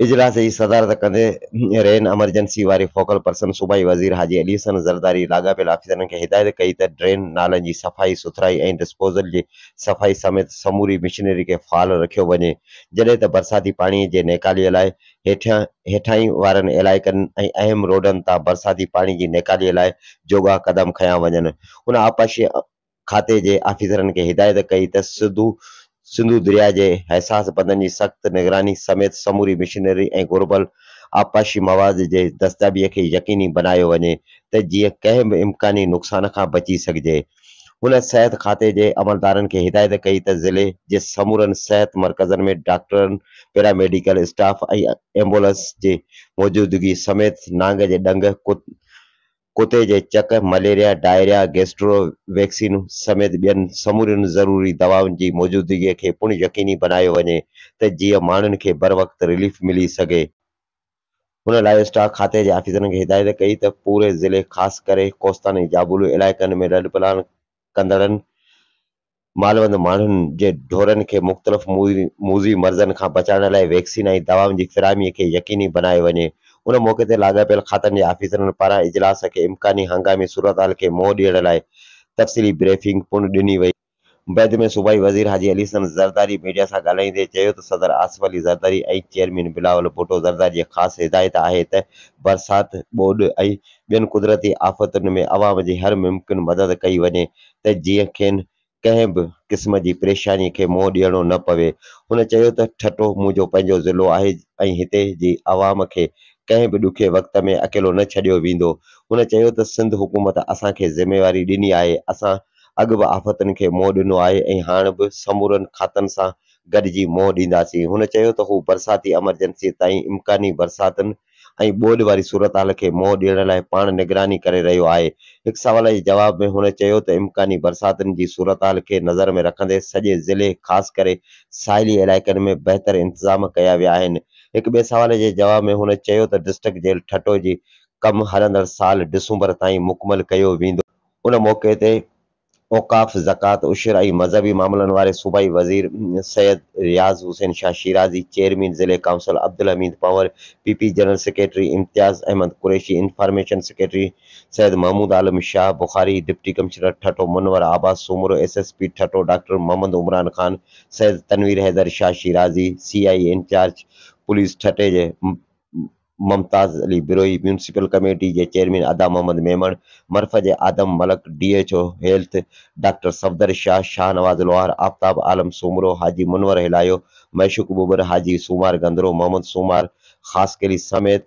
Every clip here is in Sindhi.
اجلاس جي صدارت ڪندي رين ايمرجنسي واري فوڪل پرسن صوبائي وزير حاجي علي حسن زرداري لاڳاپيل آفيسرن کي هدايت ڪئي ته ڊرين نالن جي صفائي سٿرائي ۽ ڊسپوزل جي صفائي سميت سموري مشنري کي فعال رکيو وڃي جڏهن ته برساتي پاڻي جي نيڪالي لاء هيٺيان هيٺاهين وارن علائقن ۽ اهم روڊن تان برساتي پاڻي جي نيڪالي لاء جوڳا قدم کنيا وڃن. هن آبپاشي کاتي جي آفيسرن کي هدايت ڪئي ته سڌو سنڌو درياء جي حساس بندن جي سخت نگراني سميت سموري مشينري ۽ گهربل آبپاشي مواد جي دستيابي کي يقيني بنايو وڃي ته جيئن ڪنهن به امڪاني نقصان کان بچي سگهجي. هن صحت کاتي جي عملدارن کي هدايت ڪئي ته ضلعي جي سمورن صحت مرڪزن ۾ ڊاڪٽرن، پيراميڊيڪل اسٽاف ۽ ايمبولنس جي موجودگي سميت نانگ جي ڏنگ، ڪتي جي چڪ، مليريا، ڊائريا، گيسٽرو، ويڪسين سميت ٻين سمورين ضروري دوائن جي موجودگي کي پڻ يقيني بنايو وڃي ته جيئن ماڻهن کي بروقت رليف ملي سگهي. هن لائيو اسٽاڪ کاتي جي آفيسرن کي هدايت ڪئي ته پوري ضلعي خاص ڪري ڪوستان ۽ جابلو علائقن ۾ رڏ پلاڻ ڪندڙن مالوند ماڻهن جي ڍورن کي مختلف موذي مرضن کان بچائڻ لاء ويڪسين ۽ دوائن جي فراهمي کي يقيني بنايو وڃي. ان موقعي تي لاڳاپيل کاتن جي آفيسرن پاران اجلاس کي امڪاني هنگامي صورتحال کي منهن ڏيڻ لاء تفصيلي بريفنگ پڻ ڏني وئي. بعد ۾ صوبائي وزير حاجي علي حسن زرداري ميڊيا سان ڳالهائيندي چيو ته صدر آصف علي زرداري ۽ چيئرمين بلاول ڀٽو زرداري جي خاص هدايت آهي ته برسات، ٻوڏ ۽ ٻين قدرتي آفتن ۾ عوام جي هر ممڪن مدد ڪئي وڃي ته جيئن کين ڪنهن به قسم جي پريشاني کي منهن ڏيڻو نه پوي. هن چيو ته ٺٽو منهنجو پنهنجو ضلعو آهي ۽ هتي جي عوام کي ڪنهن به ڏکئي وقت ۾ اڪيلو نه ڇڏيو ويندو. هن چيو ته سنڌ حڪومت اسان کي ذميواري ڏني آهي، اسان اڳ به آفتن کي منهن ڏنو آهي ۽ هاڻ به سمورن کاتن سان گڏجي منهن ڏينداسين. هن چيو ته هو برساتي ايمرجنسيء تائين امڪاني برساتن ۽ ٻوڏ واري صورتحال کي منهن ڏيڻ لاء پاڻ نگراني ڪري رهيو آهي. هڪ سوال جي جواب ۾ هن چيو ته امڪاني برساتن جي صورتحال کي نظر ۾ رکندي سڄي ضلعي خاص ڪري ساحلي علائقن ۾ بهتر انتظام ڪيا ويا آهن. هڪ ٻئي سوال جي جواب ۾ هن چيو ته ڊسٽرڪٽ جيل ٺٽو جي ڪم هلندڙ سال ڊسمبر تائين مڪمل ڪيو ويندو. ان موقعي تي اوقاف، زڪوات، عشر ۽ مذهبي معاملن واري صوبائي وزير سيد رياض حسين شاهه شيرازي، چيئرمين ضلعي council Abdul Hamid Panhwar, P P general secretary Imtiaz Ahmed Qureshi, information secretary Syed Mehmood Alam Shah Bukhari, deputy commissioner Thatta Munawar Abbas Soomro, S S P Thatta doctor Muhammad Imran Khan, Syed Tanveer Haider Shah Shirazi, C I A incharge police ٺٽي جي ممتاز علي بروهي، ميونسپل ڪميٽي جي چيئرمين ادا محمد ميمڻ، مرفهه جي Adam Malik, D H O health doctor Safdar Shah, Shahnawaz Lohar, Aftab Alam Soomro, Haji Munawar Helayo, Mashooq Babar, Haji Somar Gandro, Muhammad Somar Khaskheli سميت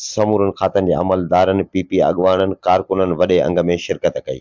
سمورن کاتن جي عملدارن، پي پي اڳواڻن، ڪارڪنن وڏي انگ ۾ شرڪت ڪئي.